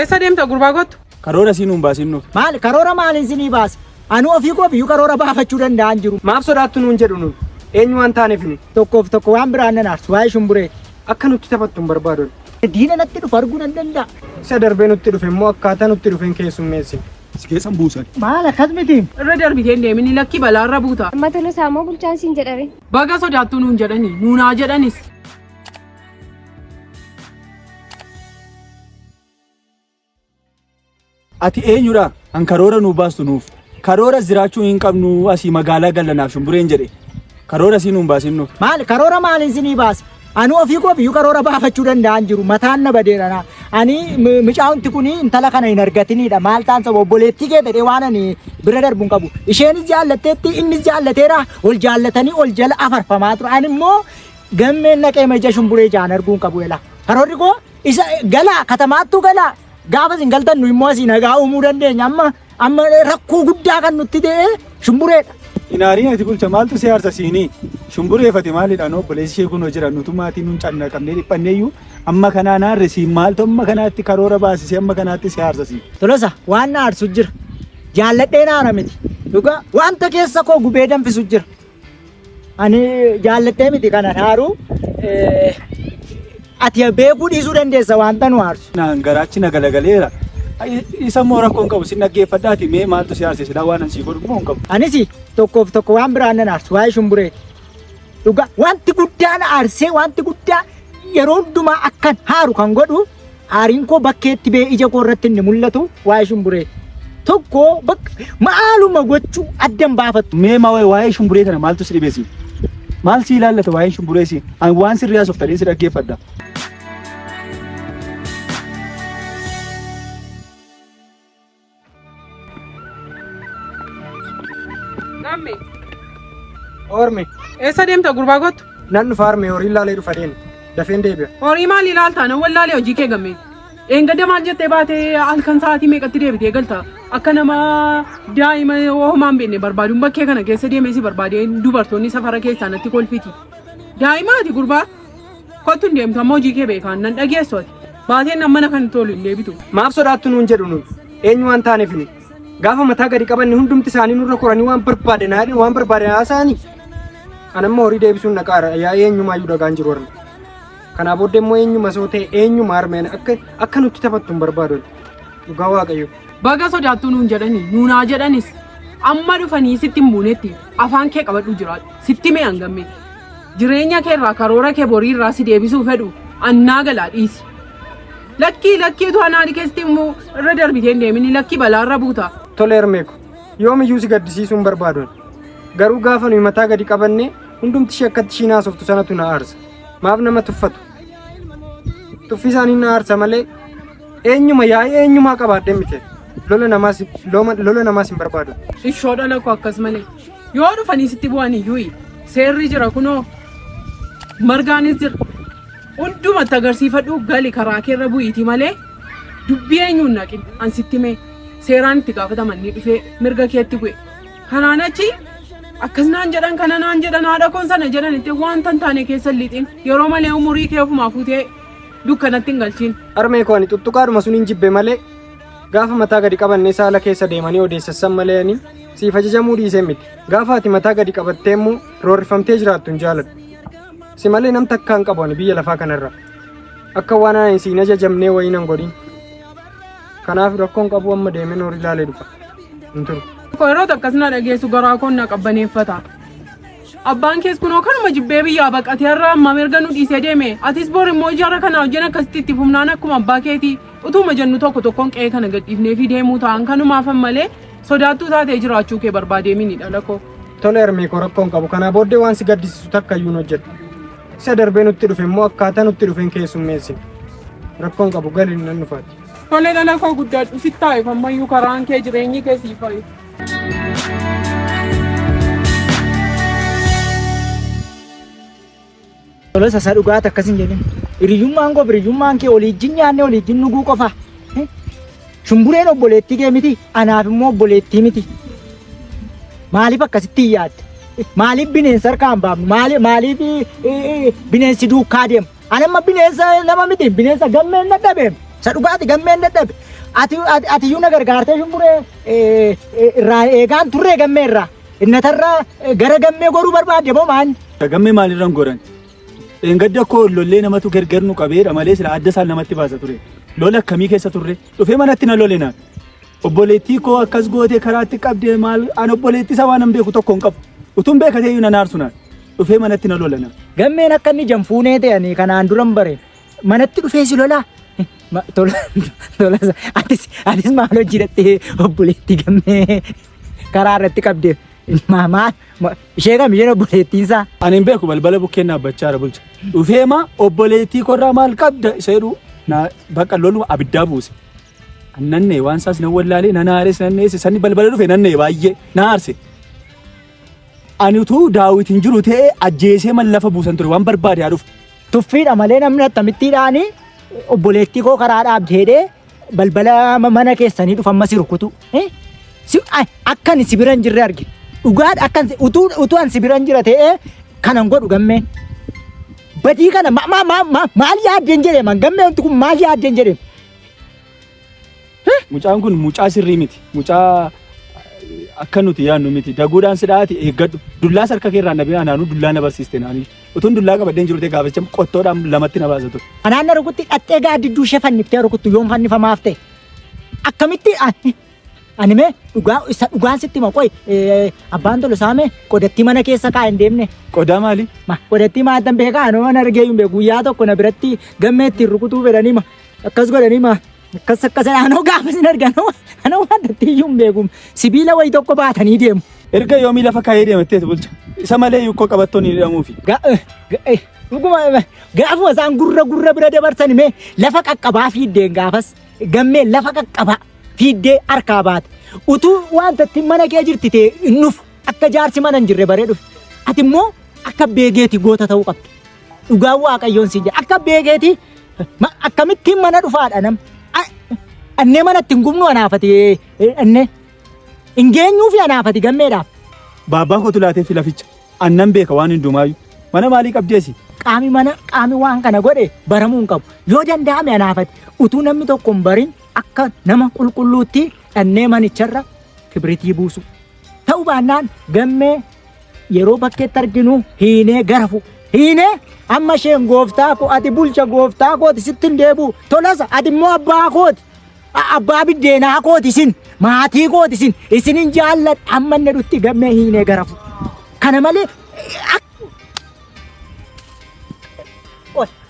Eessa deemta gurbaa kottu? Karoora sii nuun baasin nu. Maal karoora maaliin sinii baasa? Anuu ofii koo biyyuu karoora baafachuu danda'an jiru. Maaf sodaattu nuun jedhu nuun? Eenyu waan taaneef nu? Tokkoof tokko waan biraan nan aarsu waa'ee shumbureeti. Akka nutti taphattu hin barbaadu ani. Diina natti dhufu arguu nan danda'a. Isa darbee nutti dhufe immoo akkaataa nutti dhufeen keessummeessi. Si keessan buusan. Maal akkas miti? Irra darbitee hin deemin lakkii balaarra buuta. Amma Tolosaa moo bulchaan siin jedhare? Baga sodaattu nuun jedhani nuunaa jedhanis. Ati eenyudha kan karoora nuu baastu nuuf? Karoora jiraachuu hin qabnu asii magaalaa gallanaaf shumbureen jedhe. Karoora sii nuun baasin nuuf. Maal karoora maaliin sinii baasa? Ani ofii koo biyyu karoora baafachuu danda'an jiru mataan na badeera na. Ani mi- micaa'umti kun intala kana hin argatinidha maal taan saba obboleettii kee ta'e waan ani bira darbu hin qabu. Isheenis jaallatteetti innis jaallateera ol jaallatanii ol jala afarfamaa ture. Ani immoo gammeen naqee maja shumburee jaan arguu hin qabu ela. Karoorri koo Isa galaa katamaattuu galaa gaafa isin galtan nu immoo asii nagaa uumuu dandeenya amma amma rakkoo guddaa kan nutti ta'e shumbureedha. Inaariin ati bulcha maaltu si aarsa siinii? Shumbureefate maalidha noo obboleessi ishee kunoo jira nutu maatii nuun canna qabnee dhiphanneeyyuu amma kanaa naarre siin maaltu amma kanaatti karoora baasisee amma kanaatti si aarsa siin. Tolosa waan na aarsu jira. Jaalladhee naara miti. Dhugaa wanta keessa koo gubee danfisu jira. Ani jaallattee miti kanan haaru. Ati beekuu dhiisuu dandeessa wanta nu aarsu. Naan garaachi na galagaleera. Isa immoo rakkoon qabu sin dhaggeeffadhaati mee maaltu si aarse silaa waan an sii godhu immoo hin qabu. Anis tokkoof tokko waan biraan nan aarsu waa'ee shumbureeti. Dhugaa wanti guddaa na aarsee wanti guddaa yeroo hundumaa akkan haaru kan godhu Aariin koo bakkeetti bee ija koo irratti inni mul'atu waa'ee shumburee tokko bakka maaluma gochuu addan baafattu. Mee maa waa'ee shumburee kana maaltu si dhibesi? Maal si ilaallata waa'een shumburee si? Ani waan sirrii haasoftan si dhaggeeffadha. Lamme. Ormi. Eessa deemta gurbaa kottu? Nan dhufa arme horii laalee dhufa deema. Dafeen deebi'a. Horii maal ilaalta? Nan wallaalee hojii kee gammee. Eengada maal jettee baatee halkan sa'aatii meeqatti deebitee galta? Akka nama daa'ima homaa hin beekne barbaaduun bakkee kana keessa deemee si barbaadee dubartoonni safara keessaa natti kolfiti. Daa'ima ati gurbaa? Kottu hin deemtu amma hojii kee beekaan nan dhageessu ati. Baateen nan mana kan tolu hin deebitu. Maaf sodaattu nuun jedhu nuun. Eenyu waan taaneef nuun. Gaafa mataa gadi qabanne hundumti isaanii nurra koranii waan barbaadan haadhan waan barbaadan haasa'anii. An amma horii deebisuun naqaara yaa eenyumaa iyyuu dhagaan jiru harme. Kanaa booddee immoo eenyuma soo ta'e eenyuma harmeen akka akka nutti taphattu hin barbaadu. Dhugaa waaqayyo. Baga sodaattu nuun jedhani nuun haa jedhanis amma dhufanii sitti hin buunetti afaan kee qabadhu jiraadhu sitti mee hangammee. Jireenya kee irraa karoora kee borii irraa si deebisuu fedhu annaa galaa dhiisi. Lakkii lakkii utuu anaa dhikeessitti immoo irra darbitee hin deemini lakkii balaa irra buuta. Tole Hermeeko, yoomiyyuu si gaddisiisuun barbaadon. Garuu gaafa nuyi mataa gadi qabannee hundumti ishee akkatti ishiin haasoftu sanatu na aarsa. Maaf nama tuffatu? Tuffii isaanii na aarsa malee eenyuma yaa'ii eenyumaa qabaadhee miti. Lola namaas looma- lola namaas hin barbaadu. Ishoo dhala koo akkas malee. Yoo dhufanii sitti bu'an iyyuu seerri jira kunoo margaanis jira. Hundumatti agarsiifadhu gali karaa keerra bu'iiti malee dubbii eenyuun naqin an sitti mee seeraan itti gaafataman ni dhufee mirga keetti bu'e. Kanaan achi akkas naan jedhan kana naan jedhan haadha koon sana jedhan itti wanta hin taane keessa hin liixin yeroo malee umurii kee ofumaa fuutee dukkanatti hin galchiin. Harmee koo ani tuttuqaadhuma sun hin jibbe malee Gaafa mataa gadi qabanne saala keessa deemanii odeessassan malee ani siif ajajamuu dhiisee miti. Gaafa ati mataa gadi qabattee immoo roorrifamtee jiraattu hin jaaladhu. Si malee nam takka hin qabu ani biyya lafaa kanarra. Akka waan ani siin ajajamnee wayii nan godhin. Kanaaf rakkoon qabu amma deemee noor ilaalee dhufa. Hin turu. Yeroo takkas na dhageessu garaa koon na qabbaneeffata. Abbaan kees kunoo kanuma jibbee biyyaa baqatee irraa amma mirga nu dhiisee deeme. Atis bor immoo ijaarra kana hojjeen akkasitti itti fufnaan akkuma abbaa keetii. Utuuma jennu tokko tokkoon qe'ee kana gadhiifneefii deemuu ta'an kanumaafan malee sodaattuu taatee jiraachuu kee barbaadeemini dhalakoo. Tole Ermiikoo rakkoon qabu kanaa booddee waan si gaddisiisu takka iyyuu hin hojjedhu. Isa darbee nutti dhufe immoo akkaataa nutti dhufeen keessummeessi. Rakkoon qabu gali nan dhufaati. Tole dhalakoo guddaadhu sittaa'eef ammayyuu karaan kee jireenyi kee siif fayyadu. Tola sasa dhugaati akkas hin jedhin. Hiriyyummaan koo hiriyyummaan kee waliijjin nyaannee waliijjin dhuguu qofa. Shumbureen obboleettii kee miti anaaf immoo obboleettii miti. Maaliif akkasitti hin yaadde? Maaliif bineensa harkaa hin baafnu? Maali- Maaliif eh, eh, bineensi duukaa deema? Ani amma bineensa nama miti bineensa gammeen dadhabe. Isa dhugaati gammeen dadhabe. Ati ati- ati iyyuu na gargaartee shumburee eh, eh, irraa eegaan turree gammee irraa. Xinnatarraa gara gammee goruu barbaadde moo maal? Gammee maalirran goran? Dheengadda koo lollee namatu gargar nu qabeedha malee sila adda isaan namatti baasa ture. Lola akkamii keessa turre? Dhufee manatti na lole naan. Obboleettii koo akkas gootee karaatti qabdee maal an obboleettii isaa waan hin beeku tokko hin qabu. Utuun beekatee iyyuu na naarsu naan. Dhufee manatti na lole naan. Gammeen akka inni janfuunee ta'e ani kanaan duran bare. Manatti dhufee si lolaa? Ma- Tola, tola, atis, atis maal hojii dhattee obboleettii gammee karaa irratti qabdeef ma- maal ma- ishee kam isheen obboleettiin isaa Ani hin beeku balbala bukkeen dhaabbachaa jira bulcha. Dhufee maa obboleettii korraa maal qabda isa jedhu na bakka loluma abiddaa buuse. Nannee waan isaas nan wallaalee nan haares nan dheesse sanni balbala dhufe nannee baay'ee na haarse. Ani utuu daawwit hin jiru ta'ee ajjeesee man lafa buusan ture waan barbaade haa dhufu. tuffiidha malee namni akkamittiidhaani obboleettii koo karaa dhaabdeedhee balbala ma- mana keessanii dhufa amma si rukutu. Eh? Si, ay, akkan si biran jirre arge. Dhugaadha akkan si- utuu utuu an si biran jira ta'ee kanan godhu gammeen. Badii kana ma, ma, ma, ma, maal yaaddeen jedhee man gammee wanti kun maal yaaddeen jedhee. Mucaan kun mucaa sirrii miti. Mucaa akka nuti yaadnu miti. Daguudhaan si dhaati eeggadhu. Dullaas harka keerraa na bira naanuu dullaa na barsiiste naanii. Utuun dullaa qabaddeen jiru ta'e gaaficha qottoodhaan lamatti na baasa ture. Anaan na rukutti dhattee gaaddidduu ishee fanniftee rukuttu yoon fannifamaaf ta'e. Akkamitti ani ani mee dhugaa isa dhugaan sitti hima qoy eh, abbaan tolo saame qodattii mana keessa kaa'e hin deemne. Qodaa maali? Ma qodattii maatan beekaa anuma na argee hin beeku guyyaa tokko na biratti gammee ittiin rukutuu fedhanii ma akkas godhanii ma Akkas akkas anoo gaafa sin argan anoo waan datti iyyuu hin beekum sibiila wayi tokko baatanii deemu. Erga yoomii lafa kaayee deematteetu bulcha. Isa malee yukkoo qabattoon hin hidhamuufi. Ga- eh, ga- eh, dhuguma, eh, Gaafuma isaan gurra gurra bira dabarsan mee lafa qaqqabaa fiiddeen gaafas gammee lafa qaqqabaa fiiddee harkaa baate utuu wanta itti mana kee jirti ta'e hin dhufu akka jaarsi mana hin jirre baree dhufu ati immoo akka beegeeti goota ta'uu qabda. Dhugaa waaqayyoon siin jedha. Akka beekeeti akkamittiin mana dhufaadha nam. Annee mana ittiin gubnu anaafati annee. Hin geenyuufi anaafati gammeedhaaf. Baabbaa kootu laatee fi laficha. Annan beeka waan hundumaayyuu. Mana maalii qabdeesi? Qaami mana qaami waan kana godhe baramuu hin qabu. Yoo danda'ame anaafati utuu namni tokko hin barin akka nama qulqulluutti dhannee manicharra kibritii buusu. Ta'uu baannaan gammee yeroo bakkeetti arginu hiinee gara fuudha. Hiinee amma isheen gooftaa koo ati bulcha gooftaa kooti sitti hin deebi'u. Tolasa ati immoo abbaa kooti. A- Abbaa biddeenaa kooti isin maatii kooti isin isin hin jaalladha amma inni dhutti gammee hiinee gara fuudha. Kana malee ak- Ol.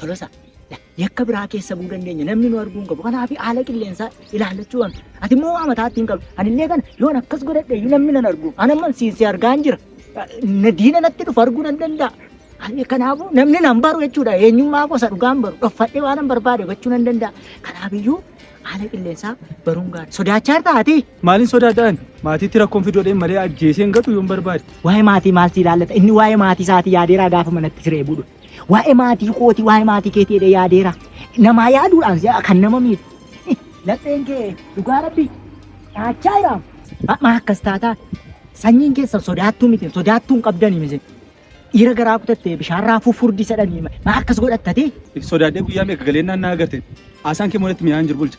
Tolosa, la, yakka biraa keessa bu'uu dandeenya. Namni nu arguu hin qabu. Kanaaf haala qilleensaa ilaallachuu qabna. Ati immoo waa mataatti hin qabdu. Ani illee kana yoon akkas godhadhe iyyuu namni nan argu. Ani amma siin si argaa hin jira. Na diina natti dhufu arguu nan danda'a. Ani kanaafuu namni nan baru jechuudha. Eenyummaa gosa dhugaa hin baru. Dhoffadhee waan nan barbaade gochuu nan danda'a. Kanaaf iyyuu haala qilleensaa baruun gaarii. Sodaachaa jirta ati? Maalin sodaadhaan? Maatiitti rakkoon fidoodheen malee ajjeesee hin gatu yoon barbaade. Waa'ee maatii maal si ilaallata? Inni waa'ee maatii isaatii yaadeeraa gaafa manatti siree buudhu. Waa'ee maatii kooti, waa'ee maatii keetii jedhee yaadeera. Namaa yaaduudhaan si'a kan nama miidhu. Eh, Lapheen kee dhugaa rabbii dhaachaa jiraam. Amma akkas taataa sanyiin keessan sodaattuu miti, sodaattuu hin qabdanii miti. Dhiira garaa kutattee bishaan raafuu furdi sadhanii ma akkas godhattatee? Sodaadhee guyyaa meeqa galeennaan naa agarte. Haasaan kee moodatti mi'aan jiru bulcha.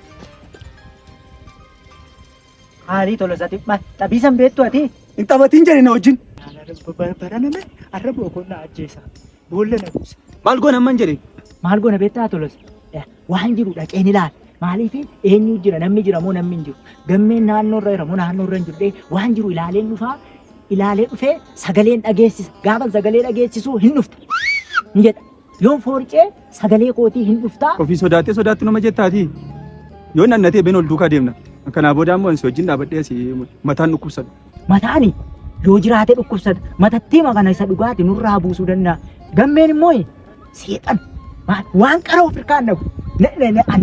Haarii Tolosaa Dhimma xabiisan beektu ati? Hin taphatiin jedhe na wajjin. Baraname arra boqonnaa ajjeesaa. Boolla na buusa. Maal goon hamman jedhe? Maal goona beektaa Tolosa? Waan jiru dhaqeen ilaala. Maaliif eenyu jira namni jira moo namni hin jiru? Gammeen naannoo irra jira moo naannoo irra hin jiru? Dhee waan jiru ilaaleen dhufaa ilaalee dhufee sagaleen dhageessisa. Gaafa sagalee dhageessisuu hin dhufta. Ni jedha. Yoon foorcee sagalee kootii hin dhuftaa. Ofii sodaattee sodaattu nama jettaatii. Yoo nannatee been ol duukaa deemna. Kanaa booda ammoo ansi wajjin dhaabadhee asii mataan dhukkubsata. Mataani yoo jiraate dhukkubsata. Matattii makana isa dhugaati nurraa buusuu danda'a. Gammeen immoo seexan waan qara of irkaa hin dhabu.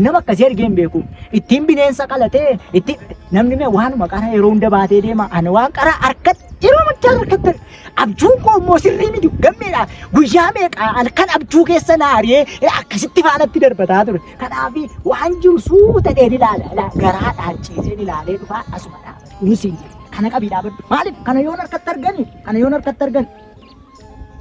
Nama akkasii argee hin beeku. Ittiin bineensa qalatee ittiin namni mee waanuma qara yeroo hunda baatee deema. Ani waan qara harkatti yeroo muchaa harkatti Abjuun koo immoo sirrii miti gammeedha. Guyyaa meeqa halkan abjuu keessa na ari'ee akkasitti faanatti darbataa ture. Kanaaf waan jiru suuta dheen ilaala. Ilaa garaadhaan ciiseen ilaalee dhufaa asuma dhaabadha. Inni siin jedhe kana qabii dhaabadhu. Maaliif kana yoon harkatti argani kana yoon harkatti argani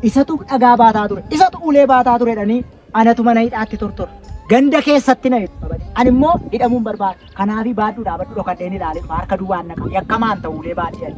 isatu dhagaa baataa ture isatu ulee baataa ture jedhanii Anatu mana hidhaatti tortora. Ganda keessatti na hidhu. Ani immoo hidhamuu hin barbaadu. Kanaafi baadhuu dhaabadhu dhokadheen ilaalee dhufa. Harka duwwaan na qabu. Yakkamaan ta'u ulee baadhii ani.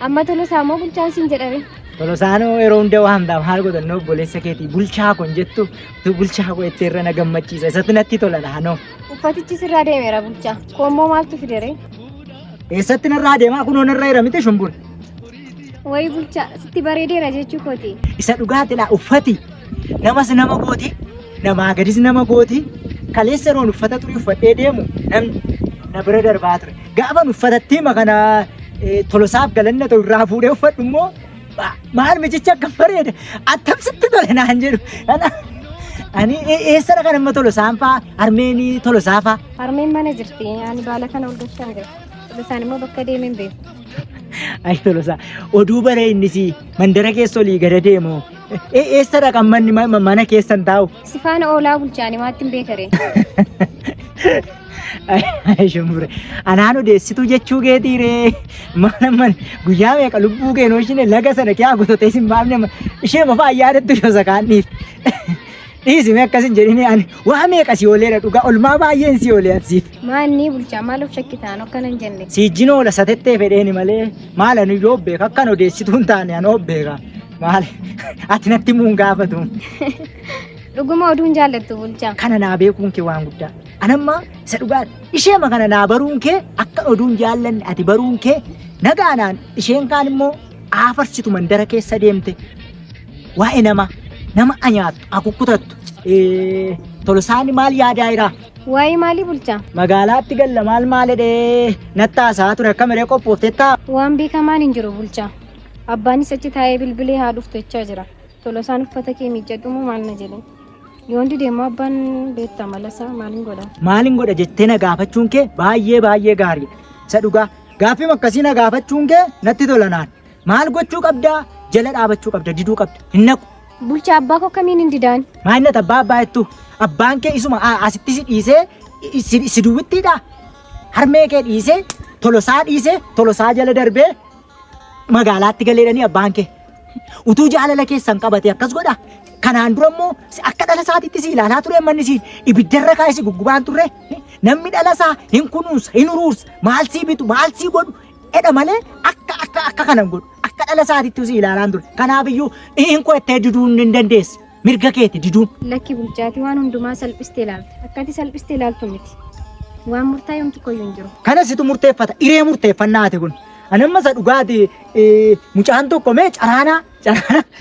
Amma Tolosaa moo bulchaan siin jedhame? Tolosaanoo yeroo hunda waa hundaaf haal godhannoo obboleessa keetii bulchaa kun jettu tu bulchaa koo itti irra na gammachiisa isatti natti tola dhaanoo. Uffatichi sirraa deemeera bulchaa. Koommoo maaltu fidere? Eessatti narraa deemaa kunoo narra jira miti shumbur. Wayi bulchaa sitti bareedeera jechuu kooti. Isa dhugaati laa uffati namas nama gooti Namaa gadis nama gooti. Kaleessa yeroon uffata xurii uffadhee deemu namni na bira darbaa ture. Gaafan uffatattii makana eh, tolosaaf galanna ta'u irraa fuudhee uffadhu immoo ma- maal mijichi akka bareeda attam sitti tole naan jedhu. Kana- Ani e- eessara kan amma tolosaan faa harmeenii tolosaa faa. Harmeen mana jirti. Ani baala kana ol galchaa hin beeku. Isaan immoo bakka deemee hin beeku. Ay tolosaa oduu bara innis mandara keessa olii gada deemu E- Eessadha kan manni ma- ma- mana keessan taa'u? Sifaana oolaa bulchaani maatti hin beekare. Ay, Shumbure. Anaan odeessituu jechuu keetii ree. Mana mana guyyaa meeqa lubbuu keenoo ishine laga sana kiyaa gototee sin baafne ma- ishee mafa ayyaadatti shosa kaanniif. Dhiisi mee akkas hin jedhini ani waa meeqa si ooleera dhugaa olmaa baay'een si oolee ansiif. Maanni bulchaa maal of shakkitaan akkana hin jenne. Siijjin oola satettee fedheeni malee maal ani yoo beeka akkan odeessituu hin taane ani oo beeka. Maali? Ati natti muun gaafatu. Dhuguma oduun jaallattu bulchaa. Kana naa beekuun kee waan guddaa. Anamma isa dhugaa isheema kana naa baruun kee akka oduun jaallanne ati baruun kee nagaanaan isheen kaan immoo aafarsitu mandara keessa deemte waa'ee nama nama anyaattu akukkutattu. Eh, Tolosaani maal yaadaa jira? Waa'ee maalii bulchaa? Magaalaatti galla maal maalidhee nattaasaa ture akka miree qophooftettaa? Waan beekamaan hin jiru bulchaa. Abbaanis achi taa'ee bilbilee haa dhuftu jechaa jira. Tolosaan uffata kee miiccadhu moo maal na jedhe. Yoon dide immoo abbaan beekta malasaa maalin godha? Maalin godha jettee na gaafachuun kee baay'ee baay'ee gaariidha. Isa dhugaa gaaffiim akkasii na gaafachuun kee natti tola naan. Maal gochuu qabdaa? Jala dhaabachuu qabda, diduu qabda. Hin naqu. Bulchaa abbaa koo akkamiin hin didaan? Maayinat abbaa abbaa jettu abbaan kee isuma a- asitti si dhiisee i- si si duwwittiidha. Harmee kee dhiisee tolosaa dhiisee tolosaa jala darbee magaalaatti galeedhanii abbaan kee utuu jaalala keessan qabate akkas godha kanaan dura immoo si akka dhala isaatiitti si ilaalaa ture manni si ibiddarra kaa'e si guggubaan turre namni dhala isaa hin kunuunsa hin uruursa maal sii bitu maal sii godhu edha malee akka akka akka kana hin godhu akka dhala isaatiitti si ilaalaan ture kanaaf iyyuu hin qo'attee diduun hin dandeessi mirga keeti diduun. Lakki bulchaatii waan hundumaa salphistee ilaalta. Akkati salphistee ilaaltu miti. Waan murtaa'e homtu koyyuu hin jiru. Kana situ murteeffata. Iree murteeffannaa ati kun. Ani amma isa dhugaati mucaan tokko mee caraanaa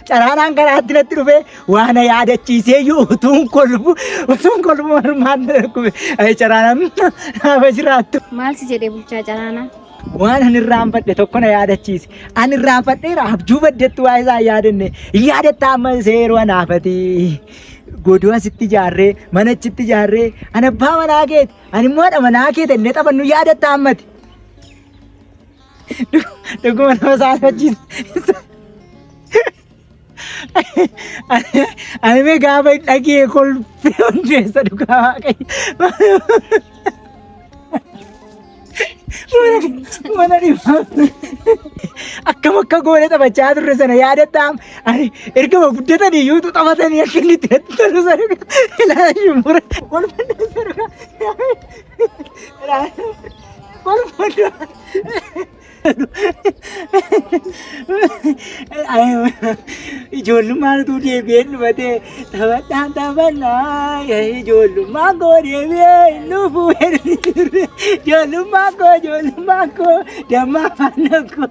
caraanaan karaatti natti dhufee waan yaadachiisee iyyuu utuun kolbu utuun kolbu marmaan darbe caraanaan naafa jiraattu. Maal si jedhee bulchaa caraanaa? Waan ani irraanfadhe tokko na yaadachiise. Ani irraanfadheera abjuu baddetti waa isaa yaadanne. Yaadatta amma seeroo anaafati. Godoo asitti ijaarree mana achitti ijaarree ani abbaa manaa keeti ani immoo haadha manaa keeti inni taphannu yaadatta ammati. Dhuguma nama saalfachiisa. Ani mee gaafa hin dhagee kolfee hundeessa dhugaa waaqayyo. Mana dhibaa. Akkam akka goone taphachaa turre sana yaadataa. Ani ergama guddatanii iyyuu utuu taphatanii akka inni itti natti tolu sana ilaalaa shumbuura. Kolfee hundeessa dhugaa. Ijoollummaatu deebi'ee dhufatee taphadhaan taphannaa ijoollummaa koo deebi'ee nufu ijoollummaa koo ijoollummaa koo dammaa faana koo.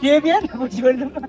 Deebi'ee nufu ijoollummaa.